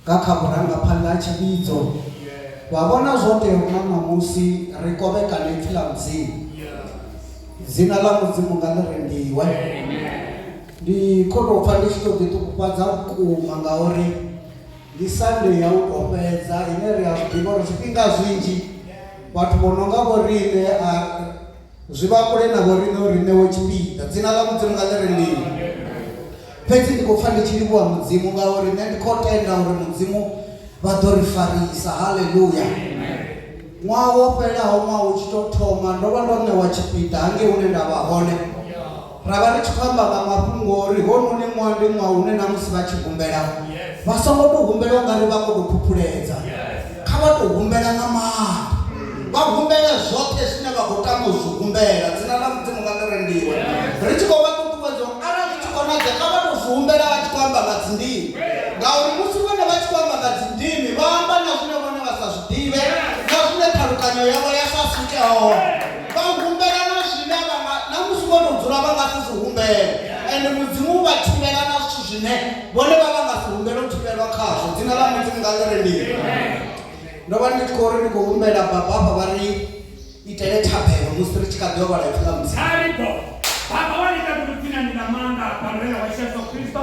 Nga kha vhurangaphanḓa ha tshivhidzo, vha vhona zwo tea uri na ṋamusi ri kovhekane Ipfi ḽa Mudzimu. Dzina ḽa Mudzimu nga ḽi rembiwe. Ndi khou tou pfa ndi tshi tou ḓiṱukufhadza vhukuma ngauri ndi Sande ya u tou fhedza ine ri a zwi ḓivha uri zwifhinga zwinzhi vhathu vho no nga vho riṋe a Zwi vha kule na vho riṋe uri ri ṋewe tshipiḓa. Dzina ḽa Mudzimu nga ḽi re mini. Fhedzi ndi khou pfa ndi tshi livhuwa Mudzimu ngauri nṋe ndi khou tenda uri Mudzimu vha ḓo ri farisa. Haleluya! Ṅwaha wo fhelaho, ṅwaha u tshi tou thoma, ndo vha ndo ṋewa tshipiḓa hangei hune nda vha hone. Ra vha ri tshi khou amba nga mafhungo uri hounoni ṅwaha ndi ṅwaha une na musi vha tshi humbela vha songo tou humbela u nga ri vha khou tou phuphuledza. Kha vha tou humbela nga maanḓa. Vha humbele zwoṱhe zwine vha khou tama u zwi humbela. Dzina ḽa Mudzimu kha ḽi rendiwe. Ri tshi khou vha ṱuṱuwedza uri arali zwi tshi konadzea kha vha tou zwi humbela vha tshi khou amba nga dzindimi. Ngauri musi vhone vha tshi khou amba nga dzindimi vha amba na zwine vhone vha sa zwi ḓivhe na zwine ṱhalukanyo yavho ya sa swike hone. vha humbela na zwine vha nga na musi vho tou dzula vha nga si zwi humbele ende mudzimu u vha thivhela na zwithu zwine vhone vha vha nga si humbele u thivhelwa khazwo dzina ḽa mudzimu nga ḽi rendiwe ndo vha ndi tshi khou ri ndi khou humbela baba afha vha ri itele thabelo musi ri tshi kha ḓi ovhala ipfi ḽa mudzimu Taribo. Baba wa ita kuti dzina ni na maanḓa a bammbela wa Yesu Kristo.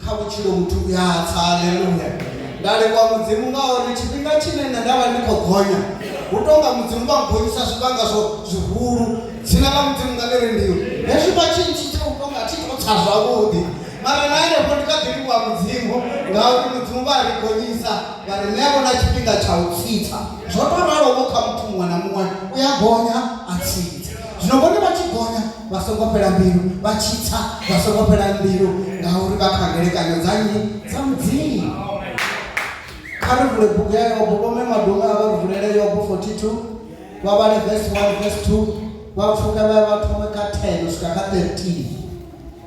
Kha vhutshilo muthu u a tsa. Aleluya! Nda livhuwa Mudzimu ngauri tshifhinga tshine nṋe nda vha ndi khou gonya, hu tou nga Mudzimu vha nngonyisa zwivhanga zwo zwihulu. Dzina ḽa Mudzimu nga ḽi rendiwe. Hezwi vha tshi ntshidza hu tou nga thi khou tsa zwavhuḓi, mara na henefho ndi kha ḓi livhuwa Mudzimu ngauri Mudzimu vha a ri gonyisa vha ri ṋeavho na tshifhinga tsha u tsitsa. Zwo tou ralo-vho kha muthu muṅwe na muṅwe, u a gonya a tsitsa. Zwino vhone vha tshi gonya, vha songo fhela mbilu vha tshi tsa vha songo fhela mbilu ngauri vha kha ngelekanyo dza nnyi dza mudzimu kha ri vule bugu ya yobo vhome madume a vha ri vulele yobo 42 vha vhale vesi 1 vesi 2 vha pfuka vha ya vha thome kha 10 u swika kha 13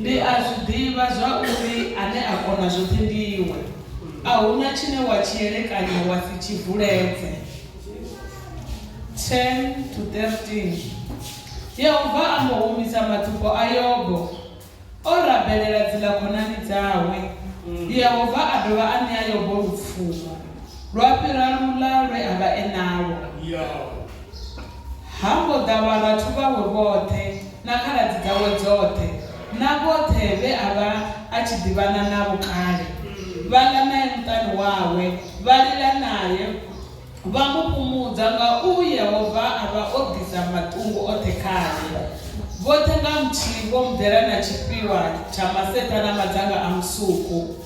Ndi a zwi ḓivha zwa uri Ane a kona zwoṱhe ndi Iwe, a hu na tshine wa tshi elekanya wa si tshi vuledze. 10-13 Yehova a mbo humisa matsiko a Yobo, o rabelela dziḽa khonani dzawe. Yehova a dovha a ṋea Yobo lupfumo lwa fhira luḽa lwe a vha e nalwo. Ha mbo ḓa vharathu vhawe vhoṱhe na khaladzi dzawe dzoṱhe na vhoṱhe vhe a vha a tshi ḓivhana navho kale, vha ḽa nae muṱani wawe, vha lila nae, vha mu fhumudza nga u Yehova a vha o ḓisa maṱungu oṱhe khae. Vhoṱhe nga muthihi vho mu ḓela na tshifhiwa tsha maseṱha na madzanga a musuku.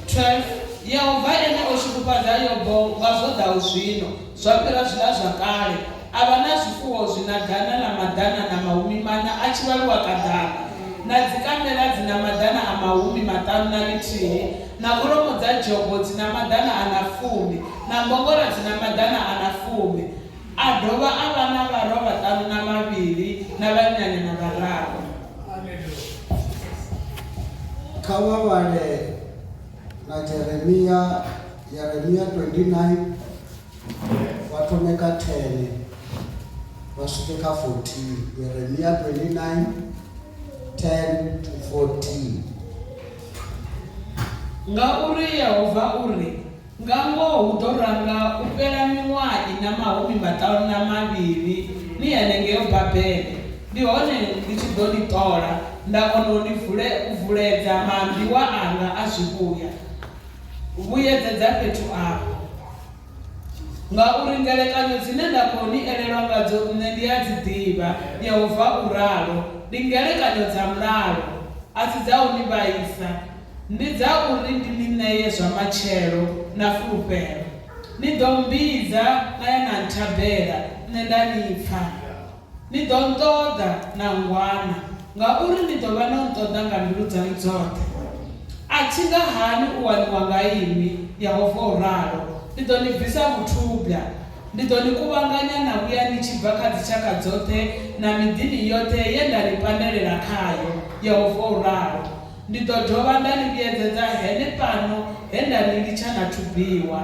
12 Yehova ene o shudufhadza Yobo nga zwo ḓaho zwino. zwa fhira zwilazwakale, a vha na zwifuwo zwi na ḓana na maḓana na mahumi maṋa a tshivhaluwa kaḓana, na dzikamela dzi na maḓana a mahumi maṱanu na ḽithihi, na kholomo dza dzhogo dzi na maḓana a na fumi, na mbongora dzi na maḓana a na fumi. A dovha a vha na vharwa vhaṱanu na vhavhili na vhannyanyana vhararu. Kha vha vhale na Jeremia. Yeremia 29 vha thome kha 10 vha swike kha 14 Yeremia 29 10 to 14 Ngauri Yehova u ri, Nga ngoho hu ḓo ranga u fhela miṅwaha i na mahumi maṱanu na mavhili ni henengeo Babele, ndi hone ndi tshi ḓo ni ṱola nda kona u ni vule, u vuledza maambiwa anga a zwivhuya. vhuyedzedza fhethu afho, ngauri ngelekanyo dzine nda khou ni elelwa ngadzo nṋe ndi a dzi ḓivha, Yehova u ralo, ndi ngelekanyo dza mulalo, a si dza u ni vhaisa, ndi dza uri ndi ni ṋee zwa matshelo na fulufhelo. Ni ḓo mmbidza na ya na nthabela, nṋe nda ni pfa. Ni ḓo nṱoḓa na ngwana, ngauri ni ḓo vha no nṱoḓa nga mbilu dzaṋu dzoṱhe. A thi nga hani u waniwa nga inwi, Yehova u ralo. Ndi ḓo ni bvisa vhuthubwa. Ndi ḓo ni kuvhanganya na vhuya ni tshi bva kha dzitshakha dzoṱhe na miḓini yoṱhe ye nda ni pandelela khayo, Yehova u ralo. Ndi ḓo dovha nda ni vhuyedzedza henefhano he nda ni litsha na thubiwa.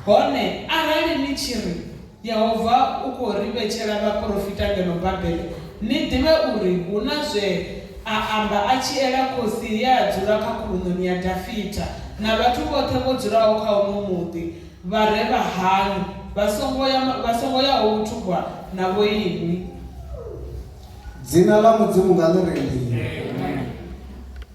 Hone arali ni tshi ri, Yehova u khou ri vhetshela vhaporofita ngeno Babele, ni ḓivhe uri hu na zwe a amba a tshi ela khosi ye a dzula kha khuluṋoni ya Dafita na vhathu vhoṱhe vho dzulaho kha uno muḓi vha re vha haṋu vha songo ya vha songo yaho vhuthubwa na vhoinwi. Dzina ḽa Mudzimu nga ḽi ri mini?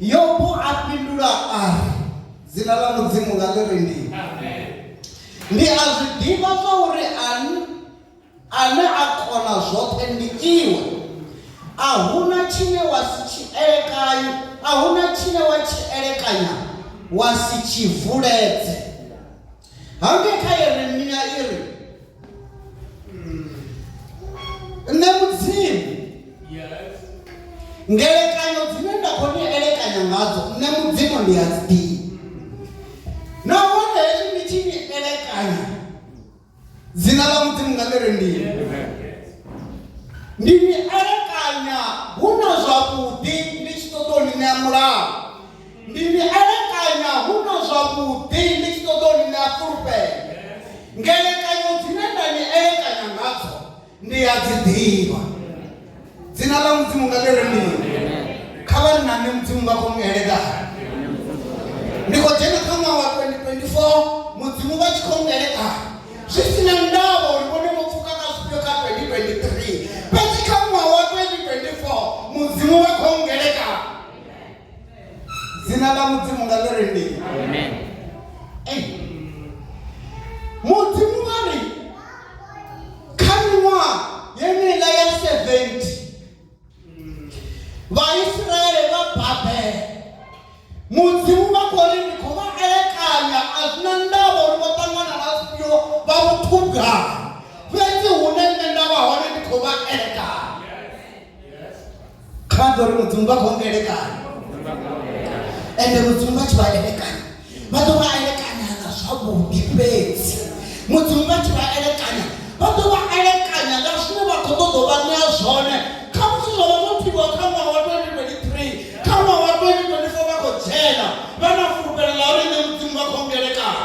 Yobo a fhindula a ri, Dzina ḽa Mudzimu nga ḽi ri ndi. Ndi a zwi ḓivha zwa uri ane a kona zwoṱhe ndi iwe. A hu na tshine wa si tshi elekanye, a hu na tshine wa tshi elekanya wa si tshi vuledze. hangei kha yeremia i ri nṋe mudzimu ngelekanyo dzine nda khou ni elekanya ngadzo nṋe mudzimu ndi a dzi nahone hezwi ndi tshi ni elekanya dzina ḽa mudzimu nga ḽi ri ndi ndi ni elekanya hu na zwavhuḓi ndi tshi ṱoḓa u ni ṋea mulaho ndi ni elekanya hu na zwavhuḓi ndi tshi ṱoḓa u ni ṋea fulufhelo ngelekanyo dzine nda ni elekanya ngadzo ndi ya dzi ḓivha dzina ḽa mudzimu nga ḽire mini kha vha nna nṋe mudzimu vha khou ngeledza ndi khou dzhena kha ṅwaha wa 2024 mudzimu vha tshi khou ngeledza zwi si na ndavha uri vhone vho pfuka nga zwifhio kha 2023 fhedzi kha ṅwaha wa 2024 mudzimu vha khou ngeledza dzina ḽa mudzimu nga ḽi ri ndi mudzimu vha ri kha miṅwaha yeneiḽa ya 70 vhaisraele vha babele mudzimu vha khou ri ndi khou vha elekanya a zwi na ndavha uri vho ṱangana na zwifhio vha vhuṱhuga fhedzi hune nṋe nda vha hone ndi khou vha elekanya kha ḓo ri mudzimu vha khou elekana ende mudzimu vha tshi vha elekana vha ḓo vha elekana nga zwavhuḓi fhedzi mudzimu vha tshi vha elekana vha ḓo vha elekanya nga zwine vha khou ṱoḓa vha ṋea zwone kha musi zwo vha zwo pfhiwa kha ṅwaha wa 2023 kha ṅwaha wa 2024 vha khou dzhena vha na fulufhelo ḽa uri nṋe mudzimu vha khou ngelekana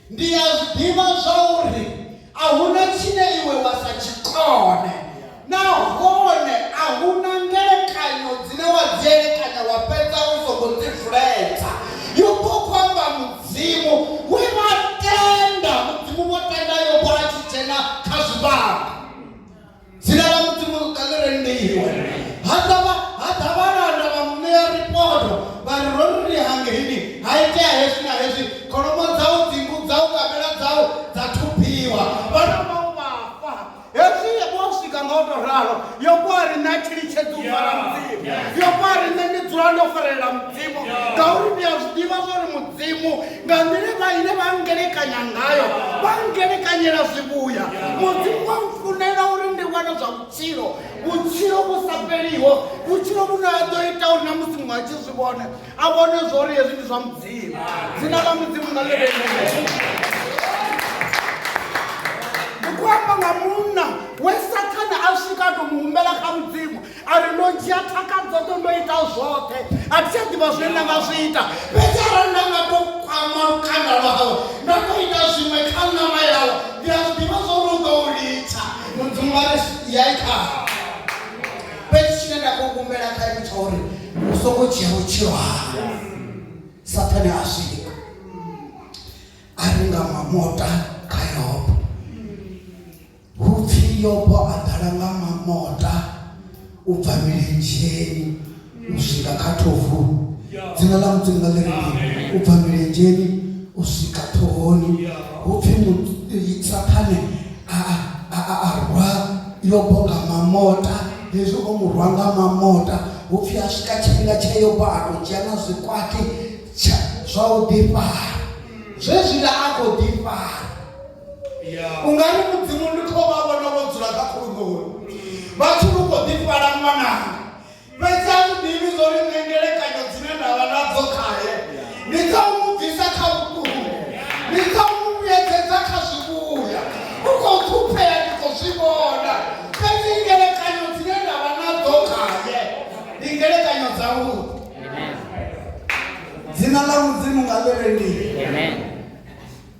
Ndi a zwi ḓivha zwauri a hu na tshine iwe wa sa tshi kone nahone a hu na ngelekanyo dzine wa dzi elekanya wa fhedza u songo ḓivuledza. Yobo u khou amba Mudzimu we vha tenda, Mudzimu vho tenda Yobo a tshi dzhena kha zwivhangi. dzina ḽa mudzimu ḽi rendiwa ha ḓavha ha ḓa vhalanda vha muṋea ripoto vha ri ro ri ri hangeini ha itea hezwi na hezwi kholomo dzau dzingu dzau kamela dzau dza thubiwa vhana vhau vha fa hezwi vho swika nga u tou ralo yo kwa ri nṋe a thi litshedzi u fara mudzimu yo kwa ri nṋe ndi dzula ndo farelela mudzimu ngauri ndi a zwi ḓivha zwa uri mudzimu nga nḓila vha ine vha ngelekanya ngayo vha ngelekanyela zwivhuya mudzimu wa mfunela uri ndi wane zwa vhutshilo vhutshilo vhu sa fheliho vhutshilo vhune ha ḓo ita uri na musi muṅwe a tshi zwi vhone a vhone zwo uri hezwi ndi zwa mudzimu dzina ḽa mudzimu nga ḽi ndi khou amba nga munna we sathana a swika a to mu humbela kha mudzimu a ri ndo dzhia thaka dzoṱhe ndo ita zwoṱhe a thi tsha ḓivha zwine nda nga zwi ita fhedzi arali nda nga to kwama lukanda lwawe nda to ita zwiṅwe kha ṋama yawe ndi a zwi ḓivha zwo ri u ḓo u litsha mudzimu wa ri yai kha fhedzi tshine nda khou kumbela kha iwe tsha uri u songo dzhia vhutshilo hanga sathane a swika a ri nga mamota kha yobo Hu pfi Yobo a ḓala nga mamota u bva milenzheni u swika kha thovu. Dzina ḽa Mudzimu nga ḽiri u bva milenzheni u swika ṱhohoni. Hu pfi Saṱhane a rwa Yobo nga mamota hezwi o mu rwa nga mamota hu pfi a swika tshifhinga tsha Yobo a tou dzhia na zwikwati zwa u ḓifara zwezwiḽa a khou ḓifara ungani mudzimu ndi kho vha vhona vho dzula kha khulugoni vhathu lu kho ḓi fala ṅwananga fhedzi a zwi ḓivhi zwo ri nṋe ngelekanyo dzine nda vha nadzo khaye ndi dza u mu bvisa kha vhuṱungu ndi dza u mu vhuyedzedza kha zwivhuya u khou ṱhuphea ndi khou zwi vhona fhedzi ngelekanyo dzine nda vha nadzo khaye ndi ngelekanyo dza vhuḓi dzina ḽa mudzimu nga ḽi rendiwe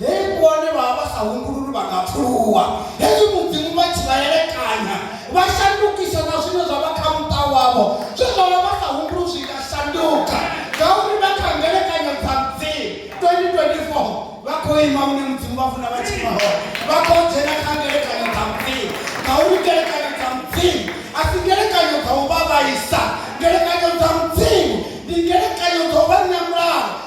Hei vhone vha vha vha sa humbululi vha nga pfuluwa. Hezwi Mudzimu vha tshi vha elekanya, vha shandukisa na zwine zwa vha kha muṱa wavho. Zwe zwa vha vha sa humbuli zwi nga shanduka ngauri vha kha ngelekanyo dza Mudzimu. 2024 vha khou ima hune Mudzimu vha funa vha tshi ima hone. Vha khou dzhena kha ngelekanyo dza Mudzimu ngauri ngelekanyo dza Mudzimu a si ngelekanyo dza u vha vhaisa. Ngelekanyo dza Mudzimu ndi ngelekanyo dza u vha ṋea mulalo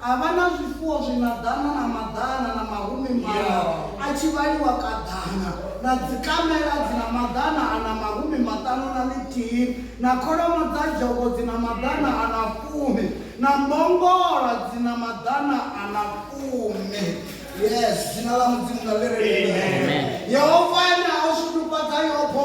A vha na zwifuwo zwi na ḓana na maḓana na mahumi maṋa a tshi vhaliwa kaḓana, na dzikamela dzi na maḓana a na mahumi maṱanu na ḽithihi, na kholomo dza dzhogo dzi na maḓana a na fumi, na mbongola dzi na maḓana a na fumi. Yes, dzina ḽa Mudzimu nga ḽi re nṱha. Yehova ene a o shudufhadza Yobo.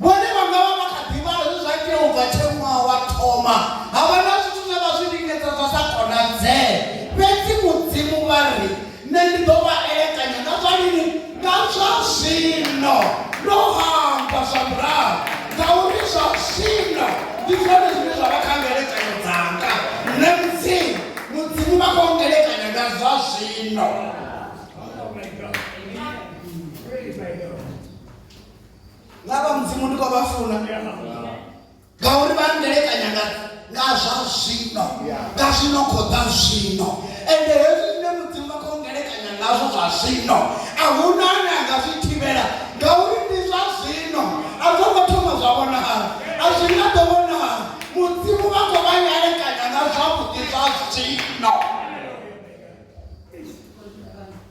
vhone vha nga vha vha kha ḓivha zwe zwa itea u bva tshe ṅwaha wa thoma ha vha na zwithu zwe vha zwi lingedza zwa sa konadzee fhedzi mudzimu vha ri nṋe ndi ḓo vha elekanya nga zwa lini nga zwa zwino ndo hamba zwa murahu ngauri zwa zwino ndi zwone zwine zwa vha kha ngelekanyo dzanga nṋe mudzimu mudzimu vha khou ngelekanya nga zwa zwino nga vha mudzimu ndi khou vha funa ngauri vha ndelekanya nga nga zwa zwino nga zwino khou ḓa zwino ende hezwi zwine mudzimu vha khou ndelekanya ngazwo zwa zwino a hu na ane a nga zwi thivhela ngauri ndi zwa zwino a zwo ngo thoma zwa vhonala a zwi nga ḓo vhonala mudzimu vha khou vha ndelekanya nga zwavhuḓi zwa zwino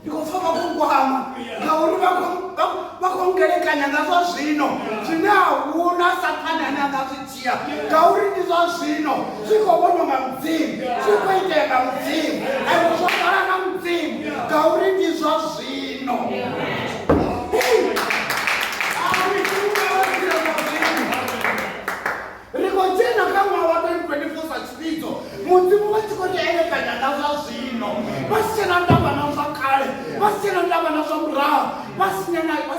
ndi khou pfa vha khou nkwama ngauri vha khou ngelekanya nga zwa zwino zwine a huna sathane ane a nga zwi dzhia ngauri ndi zwa zwino zwi khou vhonwa nga mudzimu zwi khou itea nga mudzimu ende zwo ḓala nga mudzimu ngauri ndi zwa zwino ri khou dzhena kha ṅwaha wa 2024 sa tshivhidzo mudzimu vha tshi khou ri elekanya nga zwa zwino vha si tshena ndavha na zwa kale vha si tshena ndavha na zwa murahu vha si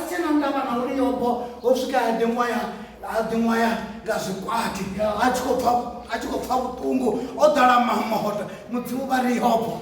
tshena ndavha na uri yobo ho swika ya ḓiṅwaya a ḓiṅwaya nga zwikwati a tshi khou pfa vhuṱungu o ḓala mamohoto mudzimu vha ri yobo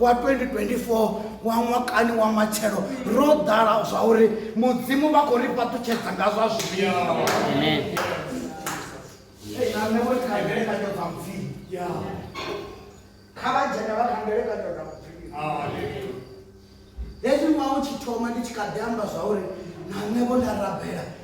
wa 2024 wa ṅwakani wa matshelo ro ḓala zwa uri mudzimu vha khou ri fhaṱutshedza nga zwa zwivhili kha vha dzhena vha kha mbelekanyo dza mupfhiri hezwi ṅwaha u tshi thoma ndi tshi kha ḓi amba zwa uri na nṋe vho nda rabela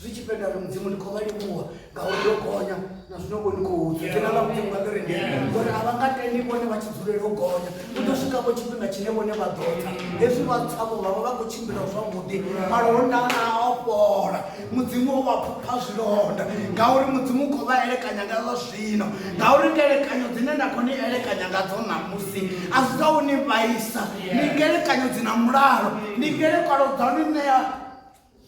zwi tshi fhela ri mudzimu ndi khou vha livhuwa ngauri yo gonya na zwino vho ndi khou dzula tena ḽa mudzimu nga kereke ngori a vha nga tendi vhone vha tshi dzulela u gonya u ḓo swika vho tshifhinga tshine vhone vha ḓo tsa hezwi vha tsavho vha vha vha khou tshimbila zwavhuḓi malonda a o fhola mudzimu o vha phupha zwilonda ngauri mudzimu u khou vha elekanya nga zwa zwino ngauri ngelekanyo dzine nda khou ni elekanya nga dzo ṋamusi a si dza u ni vhaisa ndi ngelekanyo dzi na mulalo ndi ngelekano dza u ni ṋea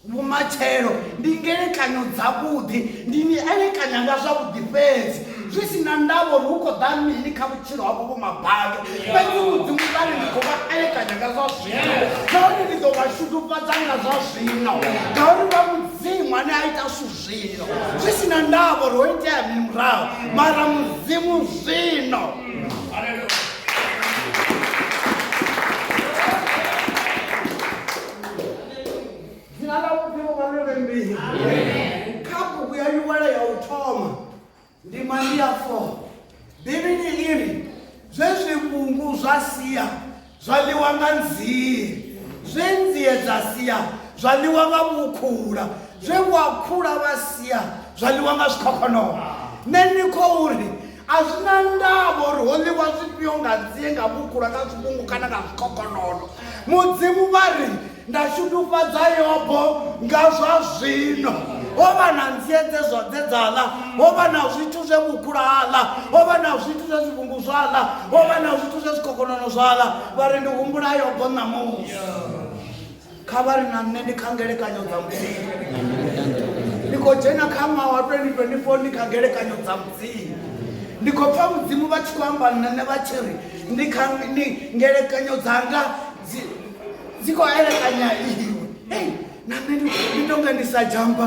vhumatshelo ndi ngelekanyo dzavhuḓi ndi ni elekanya nga zwavhuḓi fhedzi zwi si na ndavho ri hu khou ḓa mini kha vhutshilo havho vho mabado fhedzi mudzimu vhari ndi khou vha elekanya nga zwa zwino ngauri ndi ḓo vha shudufhadza nga zwa zwino ngauri vha mudzimu ane a ita zwithu zwino zwi si na ndavho ri ho itea mini murahu mara mudzimu zwino dzina ḽa mudzimu vha ḽi vhembiwe kha bugu ya liwala ya u thoma ndi mandi ya fo bivhili iri zwe zwivhungu zwa sia zwa ḽiwa nga nzie zwe nzie dza sia zwa ḽiwa nga vhukhula zwe vhuakhula vha sia zwa ḽiwa nga zwikhokhonono nṋe ni khou ri A zwi na ndavha uri ho ḽiwa zwifhio nga nzie, nga vhukula, nga zwivhungu kana nga zwikhokhonono, Mudzimu vha ri, Nda shudufhadza Yobo nga zwa zwino. Ho vha na nzie dze zwa dze dza ḽa, ho vha na zwithu zwe vhukula ha ḽa, ho vha na zwithu zwe zwivhungu zwa ḽa, ho vha na zwithu zwe zwikhokhonono zwa ḽa. Vha ri, Ndi humbula Yobo ṋamusi. kha vha ri na nṋe ndi kha ngelekanyo dza mudzimu ndi khou dzhena kha ṅwaha wa 2024 ndi kha ngelekanyo dza mudzimu ndi khou pfa mudzimu vha tshi khou amba nṋe vha tshi ri ndi kha ndi ngelekanyo dzanga dzi khou elekanya iwe hei na nṋe ndi tonga ndi sa jamba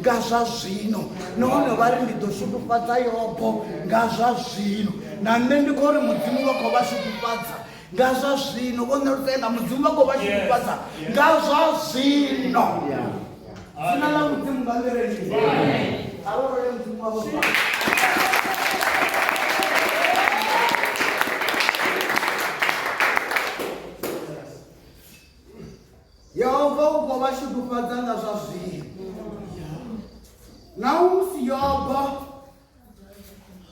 nga zwa zwino nahone vha ri ndi ḓo shudufhadza yobo nga zwa zwino na nṋe ndi khou ri mudzimu vha khou vha shudufhadza nga zwa zwino vho nṋelutenga mudzimu vha khou vha shudufhadza nga zwa zwino dzina ḽa mudzimu nga nḓireni a vha role mudzimu wavho Yehova u khou vha shudufhadza nga zwa zwino. Naho musi Yobo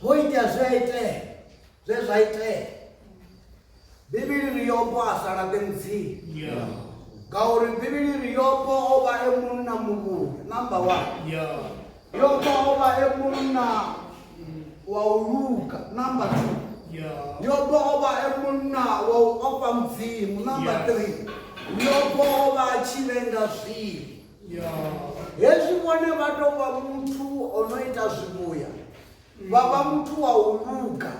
ho itea zwe a itea zwe zwa itea bivhili ri Yobo a sa laṱe mudzimu ngauri bivhili ri Yobo o vha e munna muvhulu namba one Yopa o vha e munna wa u luga number two yopa o vha e munna wa u ofha mudzimu number three yopa o vha a tshi lenga zwivhi hezwi vhone vha tou vha muthu o no ita zwivhuya vha vha muthu wa u luga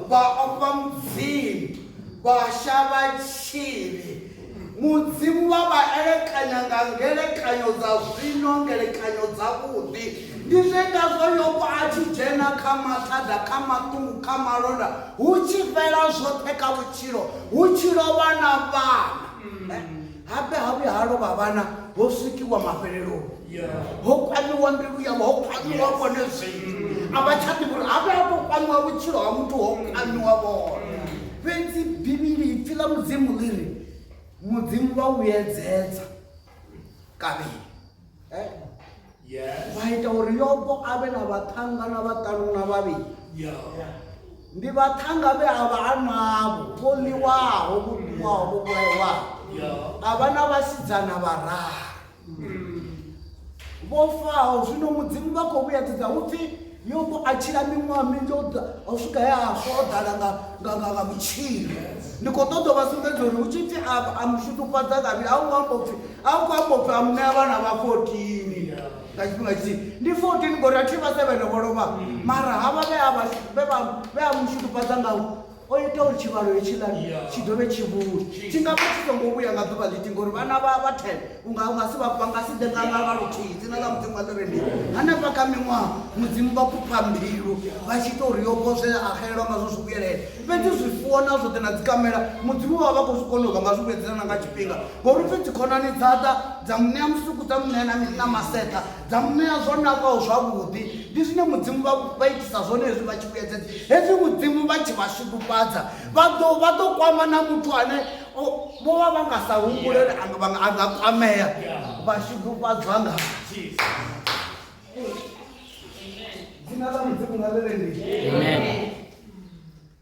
vha ofha mudzimu vha shavha tshivhi mudzimu vha vha elekanya nga ngelekanyo dza zwino ngelekanyo dzavhuḓi ndi zwe ngazwo yobo a tshi dzhena kha mathada kha maṱungu kha malonda hu tshi fhela zwoṱhe kha vhutshilo hu tshi lovha na vhana Habe ha vhuya ha lovha vhana ho swikiwa mafheleloni ho kwamiwa mbilu yavho ho kwamiwa vhone zwino a vha tsha ḓivha uri habe ha tou kwamiwa vhutshilo ha muthu ho kwamiwa vhone fhedzi bivhili ipfi ḽa mudzimu ḽi ri mudzimu vha vhuyedzedza kavhili eh? yes. vha ita uri yobo a vhe na vhaṱhanga na vhaṱanu na vhavhili yeah. yeah. ndi vhaṱhanga vhe a vha a navho vho ḽiwaho vho ḽiwaho vho vhulayiwaho yeah. a vha na vhasidzana vhararu mm. vho faho zwino mudzimu vha khou vhuyedzedza hu pfhi Yobo a tshila miṅwaha minzhi o swika he a swa o ḓala nga vhutshilo ndi khou ṱoḓa vha sumbedza uri hu tshi pfi a mushudufhadza kavhili a hu ngo amba upfi a hu khou amba upfi a muṋea vhana vha fotini nga tshifhinga tshithihi ndi fotini ngori a thi vha sevhele vho lovha mara havha vhe a mushudufhadza nga O ita uri tshivhalo hetshiḽani tshi dovhe tshi vhuye. Tshi nga vha tshi songo vhuya nga ḓuvha ḽithihi ngori vhana vha vha 10 u nga u nga si vha vha nga si ḓe nga nga luthihi. Dzina ḽa Mudzimu a ḽi re mini? Hanefha kha miṅwaha Mudzimu vha fhufha mbilu vha tshi ita uri Yobo zwe a xelelwa ngazwo zwi vhuyelela. Fhedzi zwifuwo na zwoṱhe na dzikamela Mudzimu vha vha vha khou zwi kona u vha nga zwi vhuedzedza na nga tshifhinga ngori u pfi dzikhonani dza ḓa dza mu ṋea musuku dza mu ṋea na maseṱha. dza mu ṋea zwo nakaho zwavhuḓi ndi zwine mudzimu vha itisa zwone hezwi vha tshi vhuyedzedza hezwi mudzimu vha tshi vha shudufhadza vha ḓo kwama na muthu ane vho vha vha nga sa humbulele a nga kwamea vha shudufhadzwa nga dzina ḽa mudzimu nga ḽeleni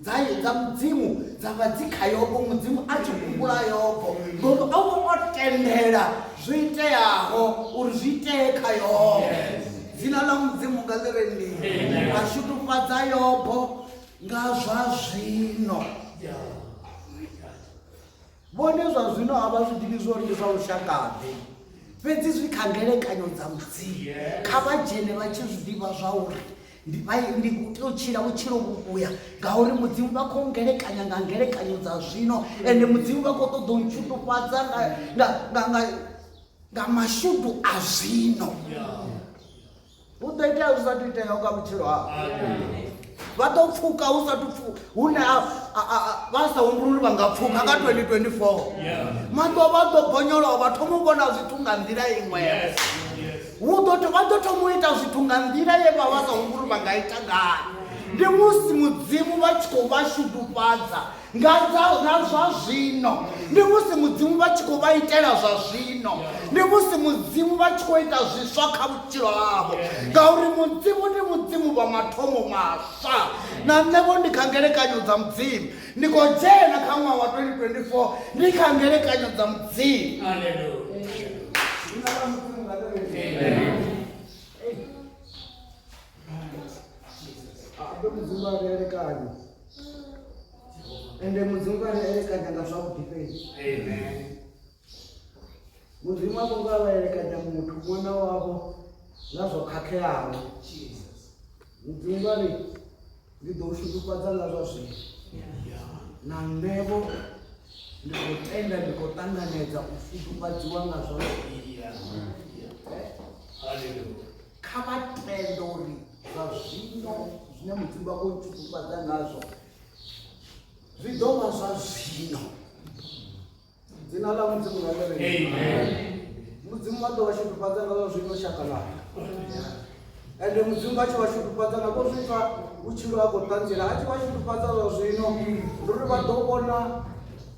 dza dza mudzimu dza vha dzi kha yobo mudzimu a tshi humbula yobo ngori o vha o tendela zwo iteaho uri zwi itee kha yobo dzina ḽa mudzimu nga ḽi re ndi a shutufhadza yobo nga zwa zwino Vhone zwa zwino a vha zwi ḓivhi zwo ri ndi zwa lushaka-ḓe, fhedzi zwi kha ngelekanyo dza Mudzimu. Kha vha dzhene vha tshi zwi ḓivha zwa uri ndi vha ndi khou tea u tshila vhutshilo vhuvhuya ngauri mudzimu vha khou ngelekanya nga ngelekanyo dza zwino ende mudzimu vha khou ṱoḓa u ntshutufhadza nga mashudu a zwino yeah. hu ḓo itea zwi sathu iteaho kha vhutshilo hao vha ḓo pfuka hu sathu pfuka hune vha sa humbululi vha nga pfuka nga 2024 maḓo vha ḓo bonyolowa vha thoma u vhona zwithu nga nḓila iṅwe hu ḓo vha ḓo thoma u ita zwithu nga nḓila ye vha vha sa humbululi vha nga ita ngayo ndi musi mudzimu vha tshi khou vha shudufhadza nga na zwa zwino ndi musi mudzimu vha tshi khou vha itela zwa zwino ndi musi mudzimu vha tshi khou ita zwiswa kha vhutshilo havho ngauri mudzimu ndi mudzimu vha mathomo maswa na nṋevho ndi kha ngelekanyo dza mudzimu ndi khou dzhena kha ṅwaha wa 2024 ndi kha ngelekanyo dza mudzimu Amen. ende mudzimu kana elekanya nga zwavhuḓi fhedzi mudzimu a songo avha elekanya muthu ṅwana wavho nga zwo khakheaho mudzimu vha ri ndi ḓo u shudufhadza nga zwa zwino na nṋevho ndi khou tenda ndi khou ṱanganedza u shudufhadziwa nga zwa zwino kha vha tende uri zwa zwino zwine mudzimu vha khou ntshukufhadza ngazwo zwi ḓo vha zwa zwino dzina ḽa mudzimu nga ḽere mudzimu vha ḓo vha shudufhadza ngazwo zwino shaka ḽanga ende mudzimu vha tshi vha shudufhadza nga khou zwipfa vhutshilo ha khou ṱanzela a tshi vha shudufhadza zwa zwino ndi uri vha ḓo vhona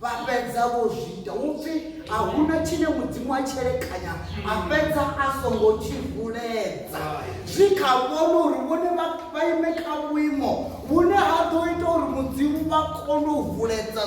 vha fhedza vho zwi ita hu pfi a hu na tshine mudzimu a tshelekanya a fhedza a songo tshi vuledza zwi kha vhone uri vhone vha ime kha vhuimo vhune ha ḓo ita uri mudzimu vha kone u vuledza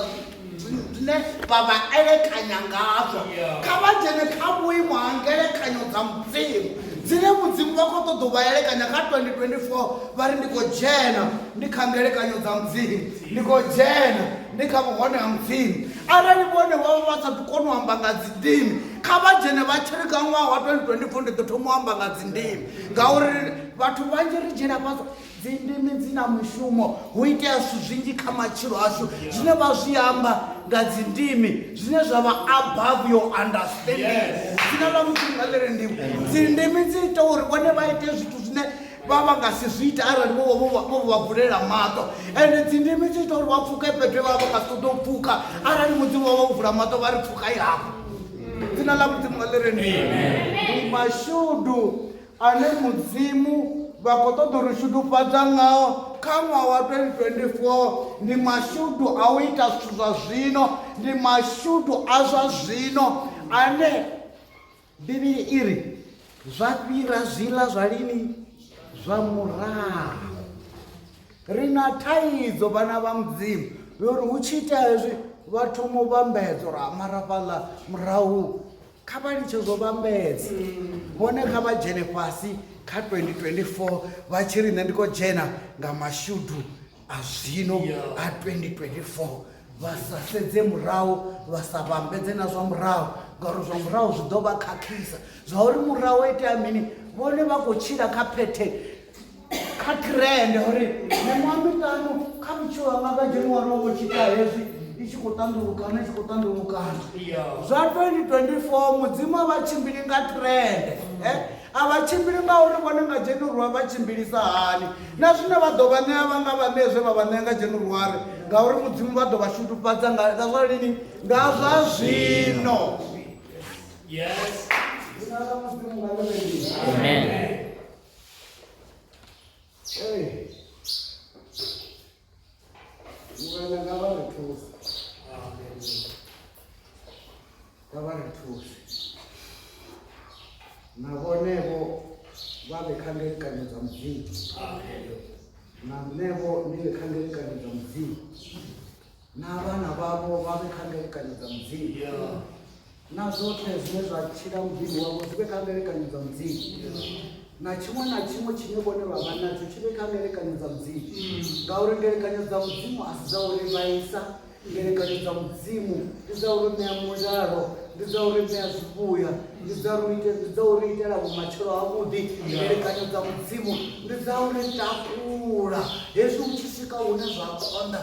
zwine vha vha elekanya ngazwo kha vha dzhene kha vhuimo ha ngelekanyo dza mudzimu dzine mudzimu vha khou ṱoḓa u vha elekanya kha 2024 vha ri ndi khou dzhena ndi kha ngelekanyo dza mudzimu Ni khou dzhena ni kha vhuhone ha Mudzimu. Arali vhone vha vha vha sa ḓi koni u amba nga dzindimi, kha vha dzhene vha tshiri kha ṅwaha wa 2024 ndi ḓo thoma u amba nga dzindimi. Ngauri vhathu vhanzhi ri dzhiela fhasi dzindimi dzi na mushumo. Hu itea zwithu zwinzhi kha matshilo ashu zwine vha zwi amba nga dzindimi zwine zwa vha above your understanding. Dzina ḽa Mudzimu nga ḽi ri ndivho. Dzindimi dzi ita uri vhone vha ite zwithu zwine vha vha nga si zwi ita arali vho vho vha- vho vha vulela maṱo ende dzindimi dzi ita uri vha pfuke fhethu he vha vha vha nga si ṱoḓe u pfuka arali mudzimu wa vha u vula maṱo vha ri pfukai hafho dzina ḽa mudzimu ḽi ri ni ndi mashudu ane mudzimu vha khou ṱoḓa uri shudufhadza ngao kha ṅwaha wa 2024 ndi mashudu a u ita zwithu zwa zwino ndi mashudu a zwa zwino ane Bivhili i ri, Zwa fhira zwiḽa zwa lini zwa murahu. Ri na thaidzo vhana vha mudzimu yori hu tshi itea hezwi vha thoma u vhambedza uri amara fhaḽa murahu kha vha litshe zwo vhambedza hone kha vha dzhene fhasi kha 2024 vha tshi ri nṋe ndi khou dzhena nga mashudu azvino a 2024 vha sa sedze murahu vha sa vhambedze na zwa murahu ngauri zwa murahu zwi ḓo vha khakhisa zwa uri murahu o itea mini vhone vha khou tshila kha phethe kha trend uri miṅwaha miṱanu kha vhutshilo hanga nga dzheniwari wo vho tshita hezwi i tshi khou ṱandulukana i tshi khou ṱandulukana zwa 2024 mudzimu a vha tshimbili nga trend eh? A vha tshimbili nga uri vhone nga Dzhenuruwari vha tshimbilisa hani, na zwine vha ḓo vha ṋea vha nga vha ṋee zwe vha vha ṋea nga Dzhenuruwari, ngauri Mudzimu vha ḓo vha shudufhadza nga, nga zwa lini? Nga zwa zwino. Yes. Dzina ḽa Mudzimu nga ḽone lini. Amen. Hey. Murena nga vha ri thusa. Amen. Nga vha ri thusa. Na vhonevho vha vhe kha ngelikanyo dza Mudzimu. Amen. Na nṋevho ni vhe kha ngelikanyo dza Mudzimu. Na vhana vhavho vha vhe kha ngelikanyo dza Mudzimu. na zwoṱhe zwine zwa tshila muḓini wavho zwi vhe kha ngelekanyo dza mudzimu na tshiṅwe na tshiṅwe tshine vhone vha vha natsho tshi vhe kha ngelekanyo dza mudzimu ngauri ngelekanyo dza mudzimu a si dza uri vhaisa ngelekanyo dza mudzimu ndi dza uri ṋea mulalo ndi dza uri ṋea zwivhuya ndi dza uri ite- ndi dza uri itela vhumatshelo havhuḓi ngelekanyo dza mudzimu ndi dza uri takula hezwi u tshi swika hune zwa konḓa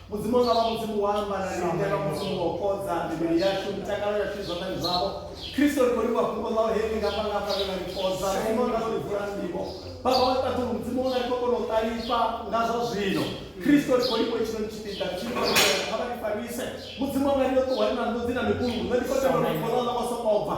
Mudzimu wanga vha Mudzimu wa amba na riṋe vha Mudzimu wa u fhodza mivhili yashu mitakalo yashu zwanḓani zwavho Kristo ri khou livhuwa fhungo ḽau he ḽi ngafha ngafha ḽe ḽa ri fhodza Mudzimu wanga ḽo ri vula nḓivho Baba wa ṱaḓulu Mudzimu wanga ri khou kona u ṱalifha nga zwa zwino Kristo ri khou livhuwa itshinoni tshipiḓa ri tshi kha vha ri farise Mudzimu wanga ri yo ṱuwa ri na nḓodzi na mikungu nṋe ndi khou tenda uri fhungo ḽau ḽa vha soko bva